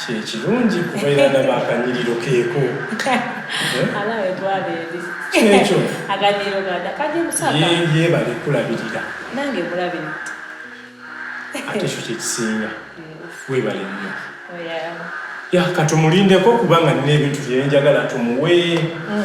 kyekirungi kuba era ndaba akanyiriro keeko kyekyo yebale kulabirira ate ekyo kyekisinga webale nnyo oh, ya katumulindeko kubanga nina ebintu byenjagala tumuwe mm.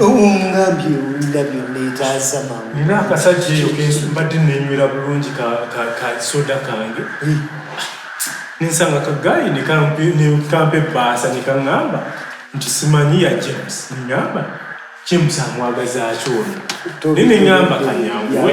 ngambye owulira byonna etaasa maama nina akasajja eyo kensu mbadde nenywera bulungi kasoda kange nensanga kagayi nekampa ebbaasa nekaŋŋamba nti simanyi ya james neŋŋamba james amwagazaaki ono naye neŋŋamba kanyanguwe